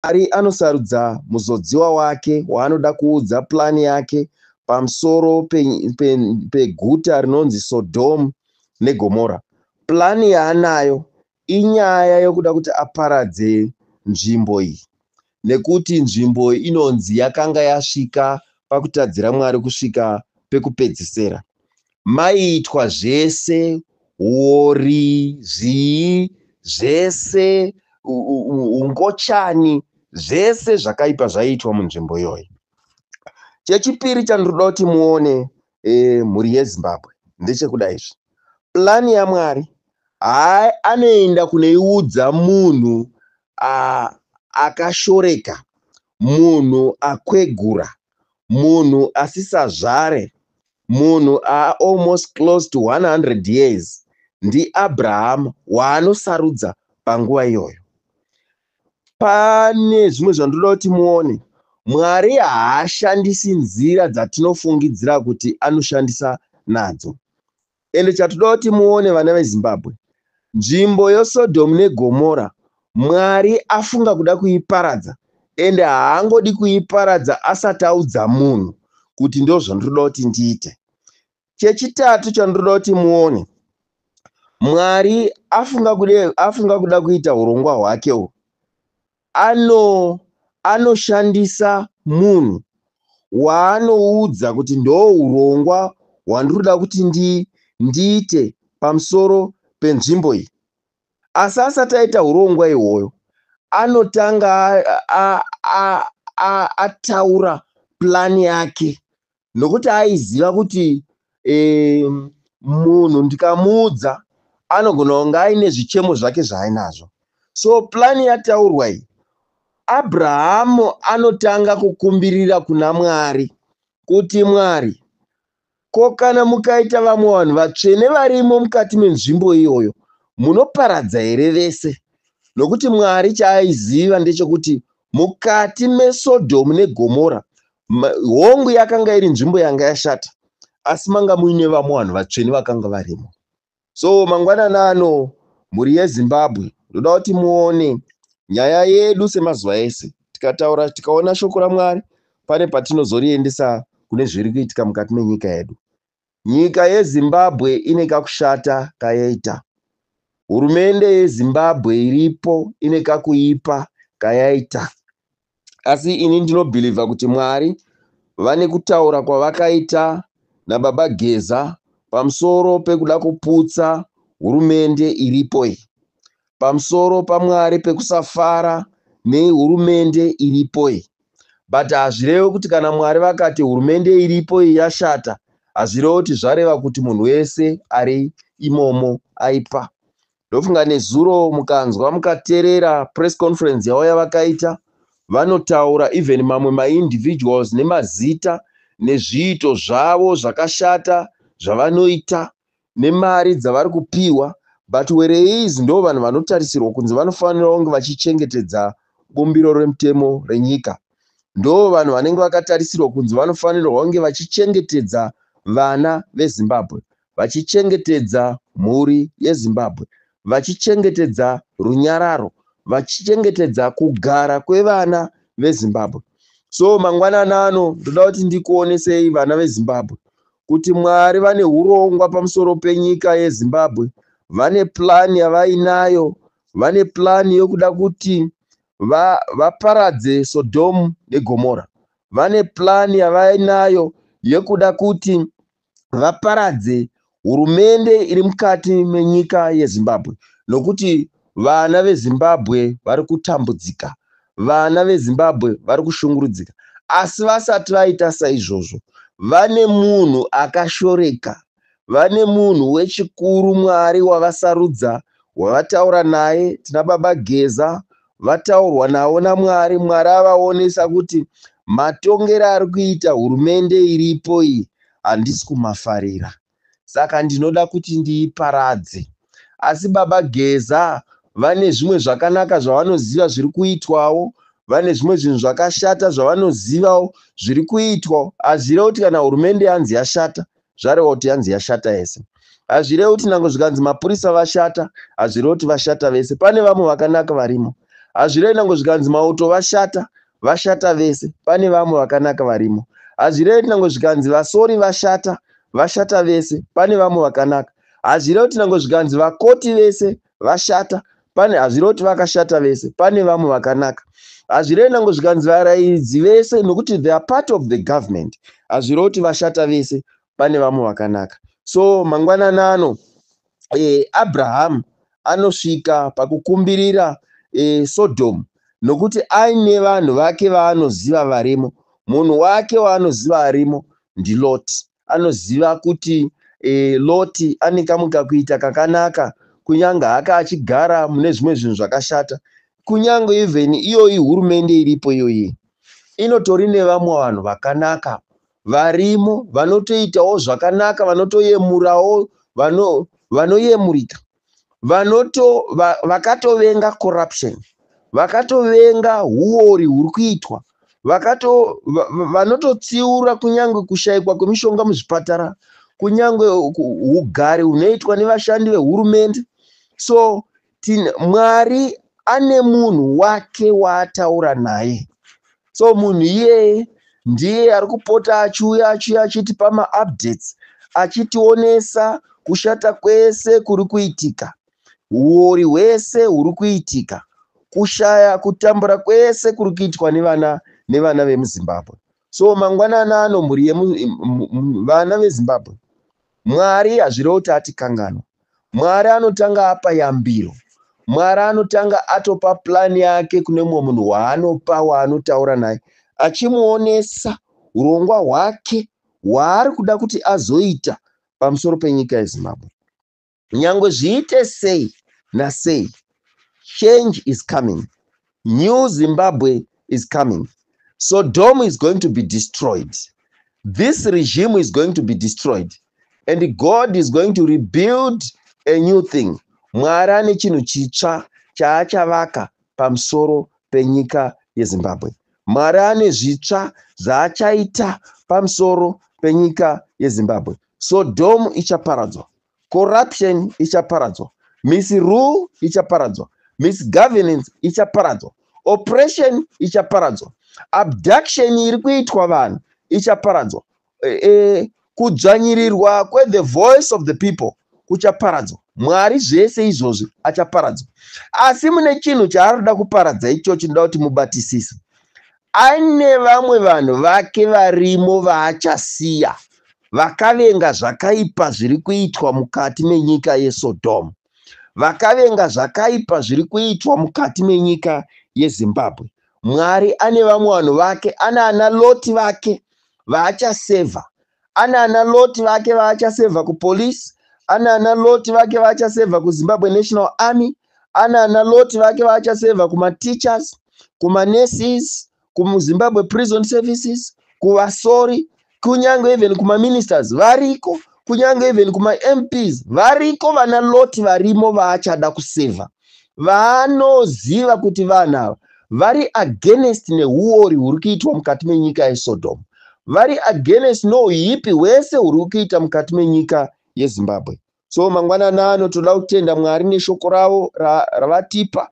Mwari anosarudza muzodziwa wake waanoda kuudza purani yake pamusoro peguta pe, pe rinonzi Sodhomu neGomora. Purani yaanayo inyaya yokuda kuti aparadze nzvimbo iyi nekuti nzvimbo iyi inonzi yakanga yasvika pakutadzira Mwari kusvika pekupedzisira. maiitwa zvese huori zvii zvese hungochani zvese zvakaipa zvaiitwa munzvimbo iyoyi chechipiri chandinoda kuti muone e, mhuri yezimbabwe ndechekuda izvi plani yamwari hai anoenda kuneiudza munhu akashoreka munhu akwegura munhu asisazvare Munhu a almost close to 100 years ndiAbraham waanosarudza panguva iyoyo. Pane zvimwe zvandoda kuti muone, Mwari haashandisi nzira dzatinofungidzira kuti anoshandisa nadzo. Ende chatoda kuti muone vana veZimbabwe, nzvimbo yoSodom neGomora Mwari afunga kuda kuiparadza ende haangodi kuiparadza asati audza munhu kuti ndozvandinoda kuti ndiite. Chechitatu chandinoda kuti muone, Mwari afunga kuda, afunga kuda kuita hurongwa hwake uhu Ano, anoshandisa munhu waanoudza kuti ndohurongwa hwandiri kuda kuti ndi, ndiite pamusoro penzvimbo iyi. Asi asati aita hurongwa ihwoyo, anotanga a, a, a, a, ataura plan yake nokuti aiziva kuti eh, munhu ndikamuudza anogona kunge aine zvichemo zvake zvaainazvo so plani yataurwa iyi abrahamu anotanga kukumbirira kuna mwari kuti mwari ko kana mukaita vamwe vanhu vatsvene varimo mukati menzvimbo iyoyo munoparadza here vese nokuti mwari chaaiziva ndechekuti mukati mesodhomu negomora Ma- hongu yakanga iri nzvimbo yanga yashata asi manga muine vamwe vanhu vatsvene vakanga varimo so mangwanani ano mhuri yezimbabwe ndoda kuti muone nyaya yedu semazuva ese tikataura tikaona shoko ramwari pane patinozoriendesa kune zviri kuitika mukati menyika yedu Nyika yeZimbabwe ine kakushata kayaita. Hurumende yeZimbabwe iripo ine kakuipa kayaita. Asi ini ndinobhilivha kuti Mwari vane kutaura kwavakaita naBaba Geza pamusoro pekuda kuputsa hurumende iripo iyi. pamusoro pamwari pekusafara nehurumende iripo iyi but hazvirevi kuti kana mwari vakati hurumende iripo iyi yashata hazvirevi kuti zvareva kuti munhu wese ari imomo aipa ndofunga nezuro mukanzwa mukaterera press conference yavo yavakaita vanotaura even mamwe maindividuals nemazita nezviito zvavo zvakashata zvavanoita nemari dzavari kupihwa but whereas ndoo vanhu vanotarisirwa kunzi vanofanira kunge vachichengetedza bumbiro remutemo renyika ndoo vanhu vanenge vakatarisirwa kunzi vanofanirwa kunge vachichengetedza vana vezimbabwe vachichengetedza mhuri yezimbabwe vachichengetedza runyararo vachichengetedza kugara kwevana vezimbabwe so mangwanani ano ndoda kuti ndikuonesei vana vezimbabwe kuti Mwari vane hurongwa pamusoro penyika yeZimbabwe. Vane plan yavainayo, vane plan yokuda kuti va, vaparadze Sodhomu neGomora. Vane plan yavainayo yekuda kuti vaparadze hurumende iri mukati menyika yeZimbabwe nokuti Vana veZimbabwe vari kutambudzika, vana veZimbabwe vari kushungurudzika. Asi vasati vaita saizvozvo, vane munhu akashoreka, vane munhu wechikuru Mwari wavasarudza, wavataura naye. Tina Baba Geza vataurwa navo naMwari. Mwari avaonesa kuti matongero ari kuita hurumende iripo iyi handisi kumafarira. saka ndinoda kuti ndiiparadze. Asi baba Geza vane zvimwe zvakanaka zvavanoziva zviri kuitwawo, vane zvimwe zvinhu zvakashata zvavanozivawo zviri kuitwawo. Hazvirevi kuti kana hurumende yanzi yashata, zvareva kuti yanzi yashata yese. Hazvirevi kuti nango zvikanzi mapurisa vashata, hazvirevi kuti vashata vese. Pane vamwe vakanaka varimo. Hazvirevi nango zvikanzi mauto vashata, vashata vese pane vamwe vakanaka varimo hazvirevi kuti nango zvikanzi vasori vashata vashata vese pane vamwe vakanaka hazvirevi kuti nango zvikanzi vakoti vese vashata pane hazvirevi kuti vakashata vese pane vamwe vakanaka hazvirevi nango zvikanzi varairidzi vese nokuti they are part of the government hazvirevi kuti vashata vese pane vamwe vakanaka so mangwanani ano e, Abrahamu anosvika pakukumbirira e, Sodhomu nokuti aine vanhu vake vaanoziva varimo. Munhu wake waanoziva arimo ndiLoti. Anoziva kuti e, Loti ane kamwe kakuita kakanaka kunyange haka achigara mune zvimwe zvinhu zvakashata kunyange even iyoyi hurumende iripo iyoyi inotori nevamwe vanhu vakanaka varimo vanotoitawo zvakanaka vanotoyemurawo vano vanoyemurika vanoto va, vakatovenga corruption vakatovenga huori huri kuitwa vakato va- va- vanototsiura kunyange kushaikwa kwemishonga muzvipatara kunyange ku- ugari hunoitwa nevashandi vehurumende so tin mwari ane munhu wake waataura naye so munhu iyeye ndiye ari kupota achiuya achiuya achitipa maupdates achitionesa kushata kwese kuri kuitika huori hwese huri kuitika kushaya kutambura kwese kuri kuitwa nevana nevana vemuzimbabwe so mangwanana ano mhuri yevana vezimbabwe mwari hazvirevo kuti atikanganwa mwari anotanga apa yambiro mwari anotanga atopa plani yake kune mumwe munhu waanopa waanotaura naye achimuonesa urongwa hwake hwaari kuda kuti azoita pamusoro penyika yezimbabwe nyangwe zviite sei nasei change is coming new zimbabwe is coming so dom is going to be destroyed this regime is going to be destroyed and god is going to rebuild a new thing mwari ane chinhu chitsva chaachavaka pamusoro penyika yezimbabwe mwari ane zvitsva zvaachaita pamusoro penyika yezimbabwe Sodhomu ichaparadzwa, corruption ichaparadzwa, misrule ichaparadzwa, misgovernance ichaparadzwa, oppression ichaparadzwa, abduction iri kuitwa vanhu ichaparadzwa, e, e, kudzvanyirirwa kwethe voice of the people kuchaparadzwa. Mwari zvese izvozvi achaparadzwa. Asi mune chinhu chaari kuda kuparadza ichochi, ndoda kuti mubatisise. Ane vamwe vanhu vake varimo vaachasiya vakavenga zvakaipa zviri kuitwa mukati menyika yeSodom. Vakavenga zvakaipa zviri kuitwa mukati menyika yeZimbabwe. Mwari ane vamwe vanhu vake, anaana Loti vake vaachasevha Anana Loti vake vaachasevha kupolice, anana Loti vake vaachasevha kuZimbabwe National Army, anana Loti vake vaachasevha kumateachers, kumanurses, kuZimbabwe Prison Services, kuvasori, kunyange even kumaministers variko, kunyange even kumaMPs variko vana Loti varimo vaachada kusevha. vanoziva kuti vanhu ava vari against neuori huri kuitwa mukati menyika yesodomu vari against nouipi hwese huri kuita mukati menyika yezimbabwe so mangwanani ano toda kutenda mwari neshoko ravo ravatipa ra,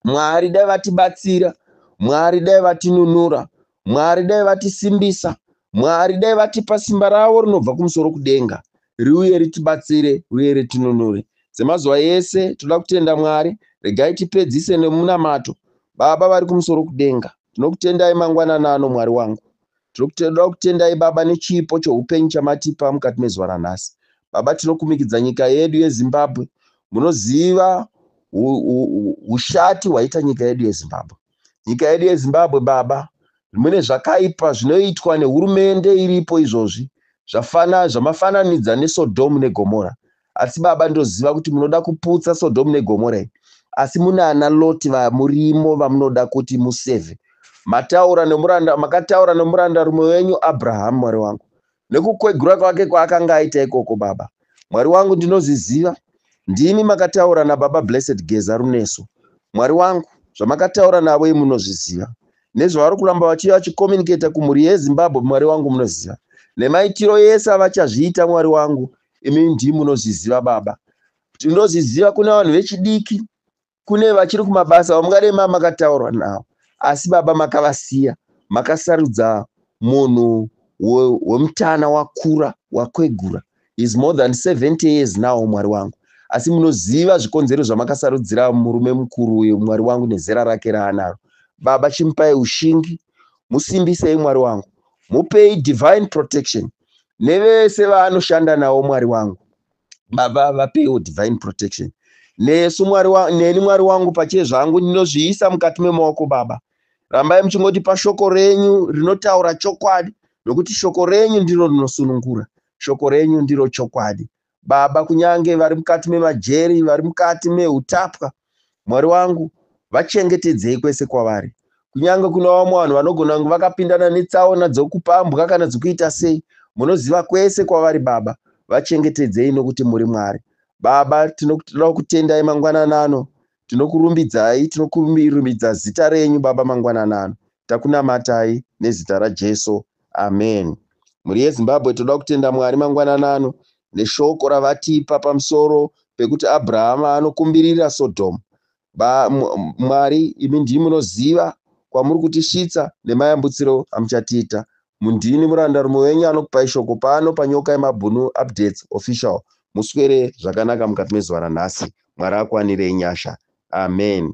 mwari dai vatibatsira mwari dai vatinunura Mwari dai vatisimbisa. Mwari dai vatipa simba ravo rinobva kumusoro kudenga riuye ritibatsire uye ritinunure. Semazuva ese toda kutenda Mwari. Regai tipedzise nemunamato. Baba vari kumusoro kudenga, tinokutendai mangwanana ano Mwari wangu. Tinokutoda kutendai Baba nechipo choupenyu chamatipa mukati mezuva ranhasi. Baba tinokumikidza nyika yedu yeZimbabwe. Munoziva ushati hwaita nyika yedu yeZimbabwe. Nyika yedu yeZimbabwe baba, zvimwene zvakaipa zvinoitwa nehurumende iripo izvozvi zvafana zvamafananidza neSodom neGomora. Asi baba ndoziva kuti munoda kuputsa Sodom neGomora iyi. Asi munana Loti vamurimo vamunoda kuti museve. Mataura nemuranda makataura nemuranda rumwe wenyu Abraham Mwari wangu. Nekukwegura kwake kwaakanga aita ikoko baba Mwari wangu ndinozviziva ndimi makataura nababa Blessed Geza Runeso Mwari wangu zvamakataura navo imi munozviziva nezvavari kuramba vachiuya vachicommunicator kumhuri yeZimbabwe Mwari wangu munoziva nemaitiro ese avachazviita Mwari wangu imi ndimi munozviziva baba Tinoziziva kune vanhu vechidiki kune vachiri kumabasa vamungadai ma makataurwa navo asi baba makavasiya makasarudza munhu wemutana wakura wakwegura is more than 70 years now mwari wangu asi munoziva zvikonzero zvamakasarudzira murume mukuru uyo mwari wangu nezera rake raanaro baba chimupai ushingi musimbisei mwari wangu mupei divine protection nevese vaanoshanda nawo mwari wangu Baba vapewo divine protection nesu mwari wa, neni mwari wangu pache zvangu ndinozviisa mukati memaoko baba rambai muchingotipa shoko renyu rinotaura chokwadi nokuti shoko renyu ndiro rinosunungura shoko renyu ndiro chokwadi baba kunyange vari mukati memajeri vari mukati meutapwa Mwari wangu, vachengetedzei kwese kwavari. Kunyange kuna vamwe vanhu vanogona kunge vakapindana netsaona dzokupambwa kana dzokuita sei, munoziva kwese kwavari Baba. Vachengetedzei nokuti muri Mwari. Baba, tinoda kukutendai mangwanana ano. Tinokurumbidzai, tinokurumbidza zita renyu Baba mangwanana ano. Takunamatai nezita raJesu. Amen. Mhuri yeZimbabwe toda kutenda Mwari mangwanana ano neshoko ravatipa pamusoro pekuti Abrahama anokumbirira Sodom. Ba, Mwari imi ndii munoziva kwamuri kutisvitsa nemayambutsiro amuchatiita. Mundini muranda rume wenyu anokupai shoko pano panyoka yemabhunu updates official. Muswere zvakanaka mukati mezuva ranhasi. Mwari akuwanirei nyasha. Amen.